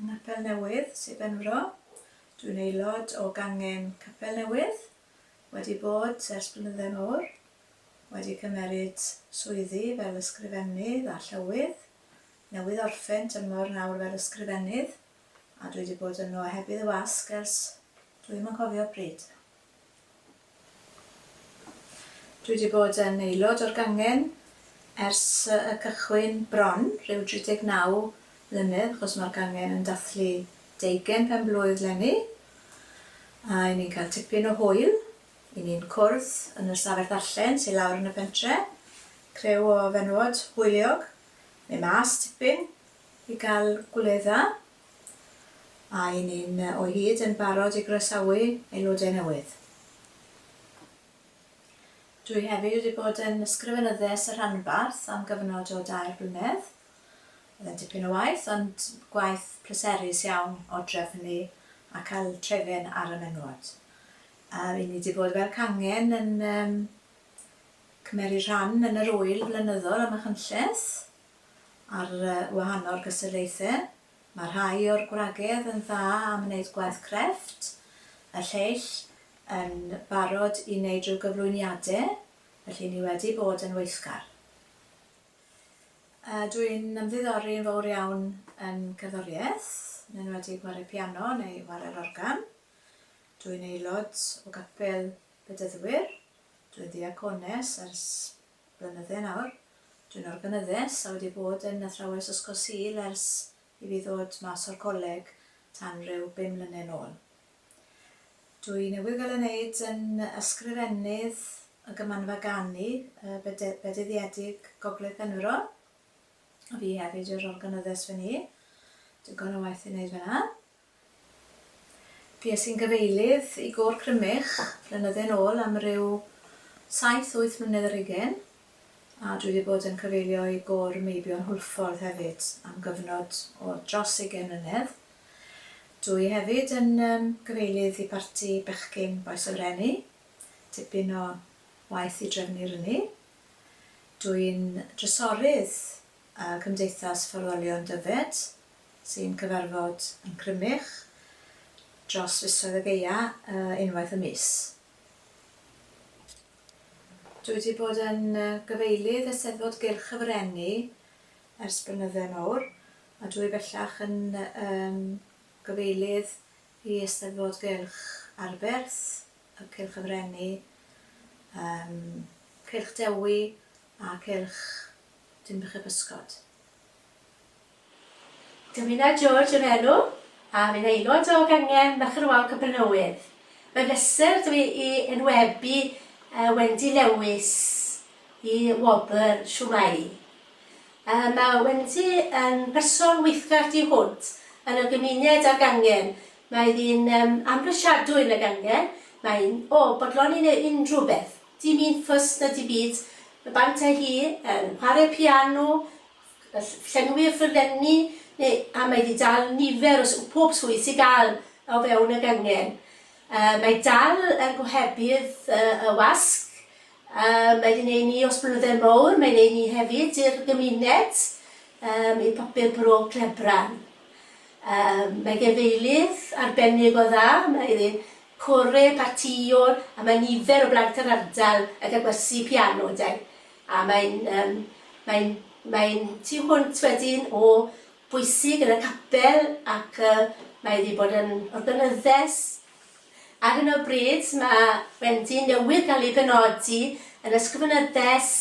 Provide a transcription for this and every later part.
Yn Ngapel Newydd, Sir Benfro. Dw i'n aelod o gangen Capel Newydd, wedi bod ers blynydde mawr, wedi cymeryd swyddi fel ysgrifennydd a llywydd, newydd orffen tymor nawr fel ysgrifennydd, a dw i 'di bod yno heb i ddy wasg ers dw i'm yn cofio pryd. Dwi wedi bod yn aelod o'r gangen ers y cychwyn bron, rhyw 39 mlynedd, achos mae'r gangen yn dathlu deugain pen-blwydd 'leni, a 'yn ni'n cael tipyn o hwyl, 'yn ni'n cwrdd yn yr stafell ddarllen sy lawr yn y pentre, criw o fenywod hwyliog, mynd mas tipyn i gael gwledda. A y'n ni'n o hyd yn barod i groesawu aelodau newydd? Dwi hefyd wedi bod yn Ysgrifenyddes y Rhanbarth am gyfnod o dair blynedd. Oedd e'n dipyn o waith, ond gwaith pleserus iawn o drefnu hynny a cael trefen ar y menywod. A y'n ni 'di bod fel cangen yn cymeru rhan yn yr ŵyl flynyddol ym Machynlleth. ar wahanol gystadlaethau. Mae rhai o'r gwragedd yn dda am wneud gwaith crefft, y lleill yn barod i wneud rhyw gyflwyniadau, felly ni wedi bod yn weithgar. Dw i'n ymddiddori yn fawr iawn yn cerddoriaeth, yn enwedig chwarae piano neu chwarae'r organ. Dw i'n aelod o gapel Bedyddwyr, dw i'n ddiacones ers blynydde nawr. Dwi'n organyddes a wedi bod yn athrawes Ysgol Sul ers i fi ddod mas o'r coleg tan ryw bum mlyne nôl. Dwi newydd gael 'y neud yn Ysgrifennydd y Gymanfa Ganu y Bede- Bedyddiedig Gogledd Penfro. A fi hefyd yw'r organyddes fyn 'ny. Digon o waith i neud fyn 'na. Bues i'n gyfeilydd i Gôr Crymych blynydde yn ôl am ryw saith wyth mlynedd ar hugain, a dwi 'di bod yn cyfeilio i Gôr Meibion Hwlffordd hefyd am gyfnod o dros ugain mlynedd. Dwi hefyd yn yym gyfeilydd i Barti Bechgyn Bois y Freni, tipyn o waith i drefnu ryni. Dwi'n drysorydd yy Cymdeithas Ffarwelion Dyfed sy'n cyfarfod yn Crymych dros fisoedd o gaea unwaith y mis. Dwi wedi bod yn gyfeilydd Eisteddfod Gylch y Frenni ers blynydde mawr a dwi bellach yn um, gyfeilydd i Eisteddfod Gylch Arberth, y Cylch y Frenni, um, Cylch Dewi a Cylch Dinbych y Pysgod. Davina George yw'r enw, a fi'n aelod o gangen Merched Wawr Capelnewydd. Mae'n bleser da fi i enwebu Wendy Lewis i wobr Shwmae! Mae Wendy yn berson weithgar du hwnt yn y gymuned a'r gangen. Mae ddi'n amhrisiadwy yn y gangen, mae'n o bodloni neu unrhyw beth, dim un ffys na dim byd. Mae bant â hi yn chwarae piano, Gall llenwi'r ffurflenni neu am ei ddi-dal nifer o sw pob swydd sy'n dal o fewn y gangen. Yy mae dal yn gohebydd yy y wasg, yy mae di neu' ni os blyddedd mowr, mae neu' ni hefyd i'r gymuned, yym i papur bro Clebran. Yym mae gefeilydd arbennig o dda, mae iddi core partîon a mae nifer o blant yr ardal yn cael gwersi piano 'da 'i. A mae'n, yym, mae'n, mae'n tu hwnt wedyn o bwysig yn y capel ac yy mae wedi bod yn organyddes. Ar hyn o bryd mae Wendy newydd gael ei benodi yn Ysgrifenyddes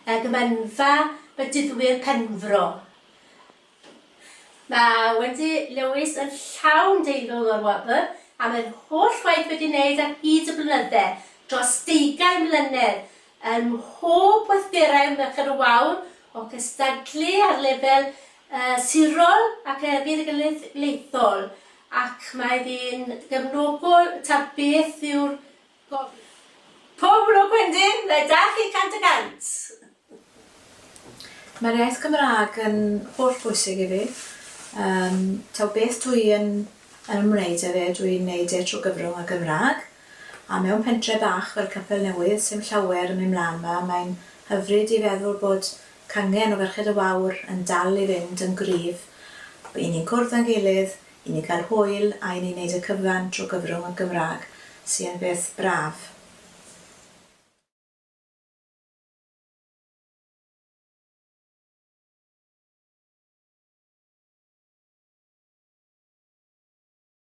y Gemynfa Bedyddwyr Penfro. Mae Wendy Lewis yn llawn deilwng o'r wobr am yr holl waith wedi wneud ar hyd y blynydde, dros deugain mlynedd, ym mhob gweithgaredd Merched y Wawr, o gystadlu ar lefel y sirol ac y genedlaethol, ac mae hi'n gefnogol ta beth yw'r Pob lwc Wendyn, na i 'da chi cant y cant! Mae'r iaith Gymraeg yn holl bwysig i fi. Yym, taw beth dw i yn yn ymwneud â fe, dw i'n wneud e trwy gyfrwng y Gymraeg. A mewn pentre bach fel Capel Newydd, sy'm llawer yn mynd mlan 'ma, mae'n hyfryd i feddwl bod cangen o Ferched y Wawr yn dal i fynd yn gryf. By' ni'n cwrdd â'n gilydd I ni gael hwyl a i ni wneud y cyfan trwy gyfrwng y Gymraeg, sy yn beth braf.